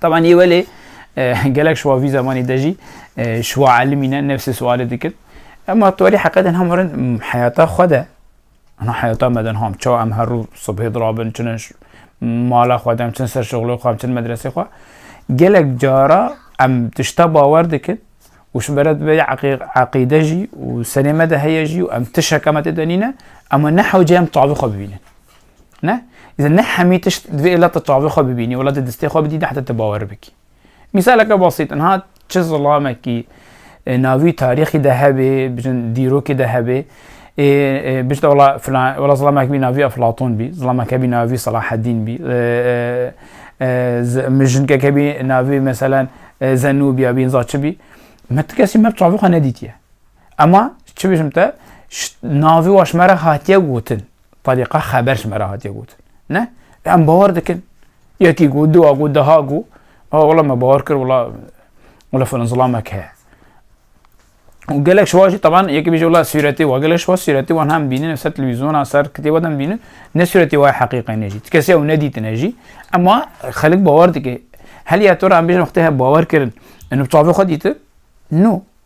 Taban yê welê gelek şiwa vî zemanî de jî şiwa elimî ne nefsê sualê dikir. Ema tu welî heqedên hem werin heyata xwe de Ana heyata me de ham çawa em her rû subhê dirabin çin mala xwe de em çin ser şixulê xwe em çin medresê xwe gelek cara em tişta bawer dikin û ji beret vê eqîde jî û serê me de heye jî û em tişeke me tê de nîne ema nehewce em tavî xwe bibînin. Ne? Îzin ne hemî tişt divê êla te çavê xwe bibînî, êla te distê xwe bidî heta te bawer bikî. Mîsaleke basît niha çi zilamekî e, navî tarîxî de hebê, bijin dîrokê de hebê, e, e, bijin wala filan wala zilamek bî navî Eflatun bî, zilamek hebî navî Salaheddîn bî, mijinkek hebî navî meselen Zenûbiya bî, za çi bî. Me ti kesî me çavê xwe nedîtiye. Ema çi bijim te, navî waşmere hatiye gotin. Tariqa xeber ji me re hatiye gotin. Ne, em bawer dikin. Yekî got, duwa got, deha got, a wela me bawer kir wela wela filan zilamek heye. û gelek şiwa jî teban yekî bêje wela sûretê wa gelek şiwa sûretê wan hem bînin ser televîzyona ser kitêba dem bînin ne sûretê wa heqîqe ne jî ti kesê ew nedîtine jî ema xelik bawer dike heliya to re em bêjin wextê he bawer kirin enu çavê xwe dîtin no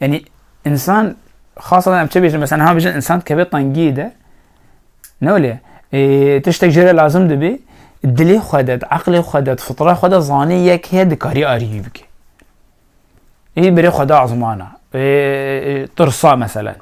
yani insan xasatan em çi bêjin mesela niha bêjin insan kevê tengiyê de ne olê tiştek jê re lazim dibê dilê xwe de eqlê xwe de fitra xwe de zanê yek heye dikarî arîyî bike ê birê xwe de ezmana tirsa meselan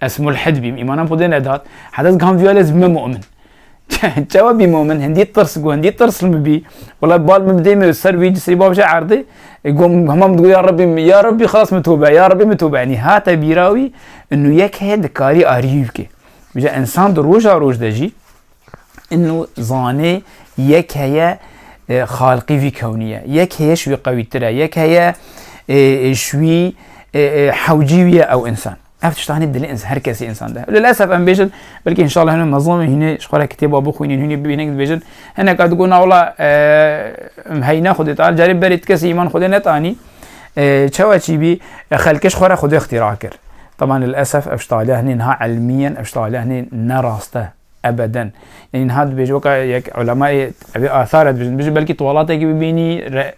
Ez mulhid bîm, îmanan Xwedê nedat, heta ez giham vîyalê ez bime mu'min. Çawa bî mu'min? Hindî tirs got, hindî tirsl min bî. Wela bal min bi dêmê û ser wî serî bavşe erdê. Got hema min digot ya Rebbî, ya Rebbî xilas min tobe, ya Rebbî min tobe. Enî hate bîra wî, nû yek heye dikarî arîyî bikê. Îja însan di roja roj de jî, Îno zanê yek heye xalqî vî kewnî ye. Yek heye ji wî qewîtir e. Yek heye ji wî hewcî wî ye ew însan. Ev tiştanê dilê însan her kesî însan de. Li lesef em bêjin belkî inşallah hene mezlûmê hînê ji xwe re kitêba bixwînîn hînê bibînin dibêjin hineka digot na wala em heyna xwedê tar carê berê ti kesî îman xwedê netanî çawa çî bî xelkê ji xwe re xwedê ixtîra kir. Taban li lesef ev ji taliya hinê niha elmî yen ev ji taliya hinê ne rast e. Ebeden. Yanî niha dibêje weka yek ulemayê evê athar e dibêjin. Dibêje belkî tuwalatekî bibînî re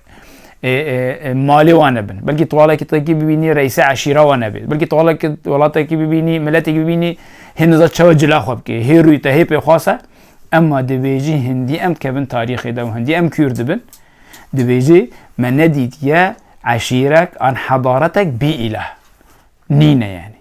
malê wan nebin. Belkî tuwalekî tekî bibînî reîsê eşîra wan nebê. Belkî tuwalekî welatekî bibînî miletekî bibînî hê niza çawa cila xwe bikê. Hê rûyê te hê pêxwas e. Emma dibêjî hindî em dikevin tarîxê de û hindî em kûr dibin. Dibêjî me nedîtiye eşîrek an hedaretek bî îlah. Nîne yanî.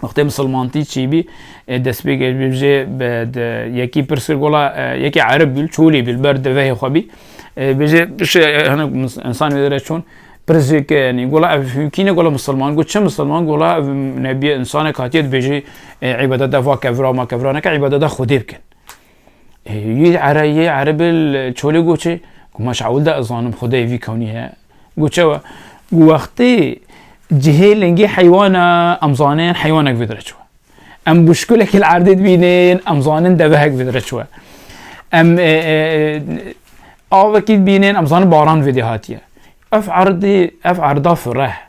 Wextê misilmantî çîbî ê destpêkê ji vê bi di yekî pir sir gola yekê erib bî çolî bî li ber devehê xwe bî bêje bişe hinek insan wê dire çûn pir zêke yanî gola ev hûkîne gola misilman got çi misilman gola ev nebiye insanek hatiye dibêjî îbadete va kevra ma kevra neke îbadete xwedê bikin Yê era yê erebê çolê goçê ku ma şawil de zanim xudeyê vî kewnî heye. Goçe we ku wextê cihê lingê heywana em zanên heywanek vê dire çiwe. Em buşkulekê li erdê dibînin em zanin devehek vê dire çiwe. Em avekî dibînin em zanin baran vê dê hatiye. Ev erdê ev erda fireh.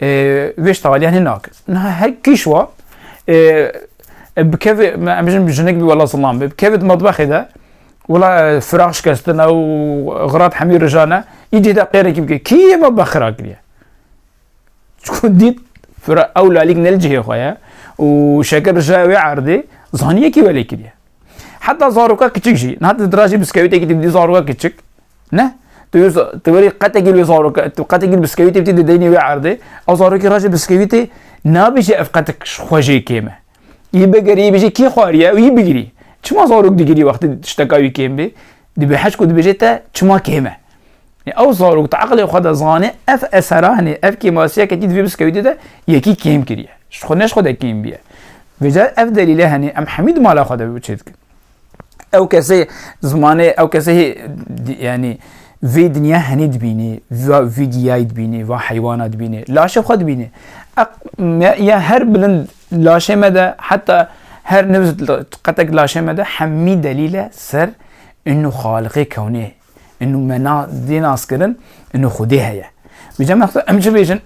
Wê ji taliyan hê nakir. Niha her kîş wa bikevê em bijin jinik bî wela zilam bê. Bikevê di matbexê de wela firaq şikestine û xirat hemî rijane îdî de qêrekî bike. Kî yê me bexira kiriye? Çku dît fira ew lalîk ne li cihê xwe ye û şekir rije wê erdê zanî yekî welê kiriye. Heta zaroka kiçik jî, niha tu dirajî biskewîtekî tu bidî zaroka kiçik, ne? Tu werî qetekî wê zaroka, tu qetekî biskewîtê bidî di deynê wê erdê, ew zarokî rajê biskewîtê nabêje ev qetek xwe jê kêm e. Yî bigerî yî bijî kî xwariye û yî bigirî. Çima zarok digirî wextê tişteka wî kêm bê? Dibê heşk û dibêjê te çima kêm e. Ew zarok di eqlê xwe de zanê ev esera hinê, ev kêmasiya ketî di vê biskewîtê de yekî kêm kiriye. Ji xwe ne ji xwe de kêm bûye. Vê car ev delîle henê em hemî di mala xwe de çê dikin. Ew kesê zimanê ew kesê yanî vê dinya henê dibînê, vîdiyayî dibînê, va heywana dibînê, laşê xwe dibînê. Ya her bilind Laşê me de heta her nivz qetek laşê me de hemî delîl e ser inu Xaliqê kewnê, inu me na dê nas kirin inu Xwedê heye. Bi cem heta em çi bêjin?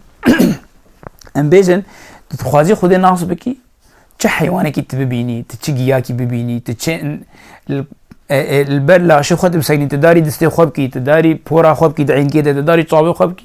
Em bêjin tu dixwazî Xwedê nas bikî çi heywanekî tu bibînî, tu çi giyakî bibînî, tu çi li ber laşê xwe tu bisekinî, tu darî distê xwe bikî, tu darî pora xwe bikî di enkê de, tu darî çavê xwe bikî.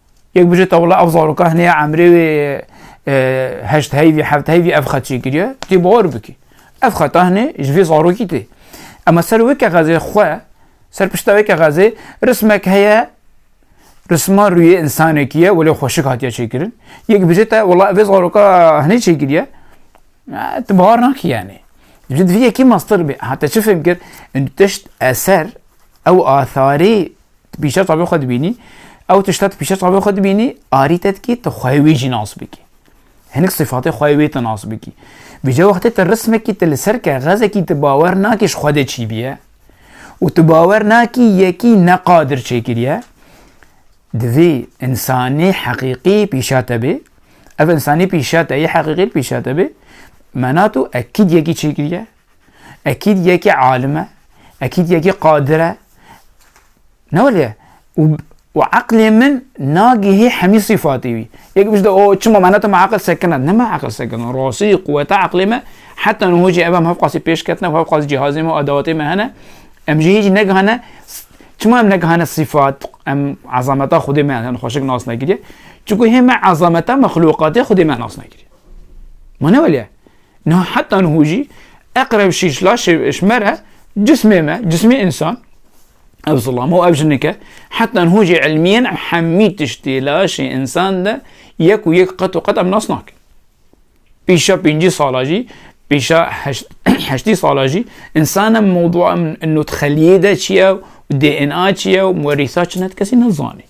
Yek bije te wela ev zaroka hinê ya emrê wê heşt heyvî heft heyvî ev xet çêkiriye tê bawir bikî. Ev xeta hinê ji vê zarokî tê. Ema ser wê kexezê xwe ser pişta wê kexezê rismek heye risma rûyê însanekî ye welê xweşik hatiye çêkirin. Yek bije te wela ev zaroka hinê çêkiriye tu bawir nakî yanî. Ji divê yekî mastir bê. Hate çi fêm kir? Tişt eser ew atharî Tu pîşev tabê xwe dibînî, ew tişta tu pîşev tabê xwe dibînî, arî te dikî tu xweyê wî jî nas bikî. Hinek sifatê xweyê wê tu nas bikî. Vîca wextê tu rismekî tu li ser kexezekî tu bawer nakî ji xwe de çî biye û tu bawer nakî yekî neqadir çêkiriye, divê insanî heqîqî pîşa te bê, ev insanî pîşa te yê heqîqî pîşa te bê, mena tu ekîd yekî çêkiriye, Ekîd yekê alim e, ekîd yekê qadir e. Ne wele û û eqlê min nagihê hemî sîfatê wî. Yek bijde o çima me netim eqil sekina. Ne me eqil sekina. Rastî quweta eqlê me heta niho jî ev em hevqasî pêş ketine û hevqasî cihazê me û edewatê me hene. Em jî hêjî negihane çima em negihane sîfat em ezameta Xwedê me em xweşik nas nekiriye. Çunku hê me ezameta mexluqatê Xwedê me nas nekiriye. Ma ne wele Niha heta niho jî eqreb şîş laşê ji me re cismê me, cismê însan ev zilam û ev jinike heta niho jî ilmiyen em hemî tiştê laşê însan de yek û yek qet û qet em nas nakin. Pêşa pêncî sala jî pêşa heştî sala jî însan em mewdua em nûtxeliyê de çi ye û DNA çi ye û werîsa çi ne kesî nezanî.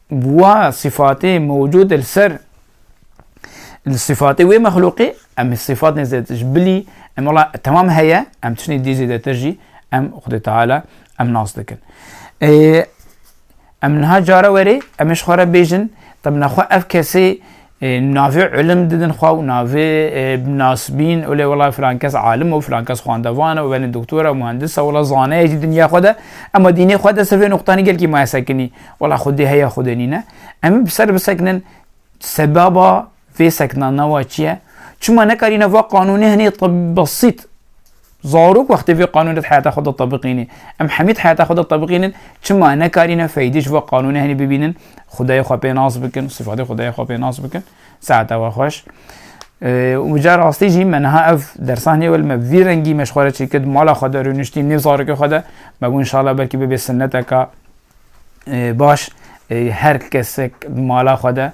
Bi wa sifatê mewcûd li ser li sifatê wê mexlûqê em ê sifatên zêdetir ji bilî em wala temam heye em tiştên dî zêdetir jî em Xwedê Teala em nas dikin. Em niha cara werê em ê ji xwe re bêjin temna xwe ev kesê Navê ilim didin xwe û navê nasibîn olê wela filan kes alim o, filan kes xwendevan o, belê doktor e, muhendis e, wela zaneye jî dinya xwe de ema dînê xwe de ser vê nuqtanî gelkî maye sekinî. Wela xwedê heye xwedê nîne. Em ê bi ser bisekinin sebaba vê sekina nawa çi ye? Çima nekarîne va qanûnê hinê besît Zarok wextê vê qanûnê di heyata xwe de tebiqînê. Em hemî di heyata xwe de tebiqînin, çima nekarîne feydê ji vê qanûnê henî bibînin, xwedayê xwe pê nas bikin, sifetê xwedayê xwe pê nas bikin. Saeta we xweş. Û ca rastî jî me niha ev dersan heye wel me vî rengî me ji xwe re çêkir, di mala xwe de rûniştî nêv zarokê xwe de, me got inşallah belkî bibe sinneteka baş her kesek bi mala xwe de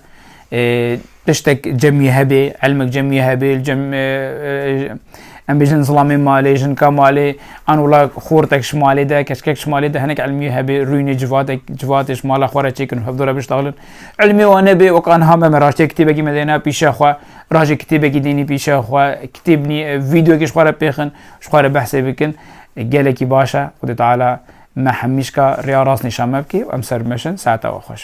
tiştek cemî hebê elmek cemî hebê em bêjin zilamê malê jinka malê an wila xortek ji malê de keşkek ji malê de hinek elmî hebê rûnê civatek civatê ji mala xwe re çêkin hevdora biştaxlin elmî wan nebê wek anha me me raştê kitêbekî me dêna pîşa xwe rajê kitêbekî dênî pîşa xwe kitêbnî videoyekî ji xwe re pêxin ji xwe re behsê bikin gelekî baş e xwedê teala Me hemîşka rêya rast nîşan me bikî û em ser bi me şin, saeta we xweş.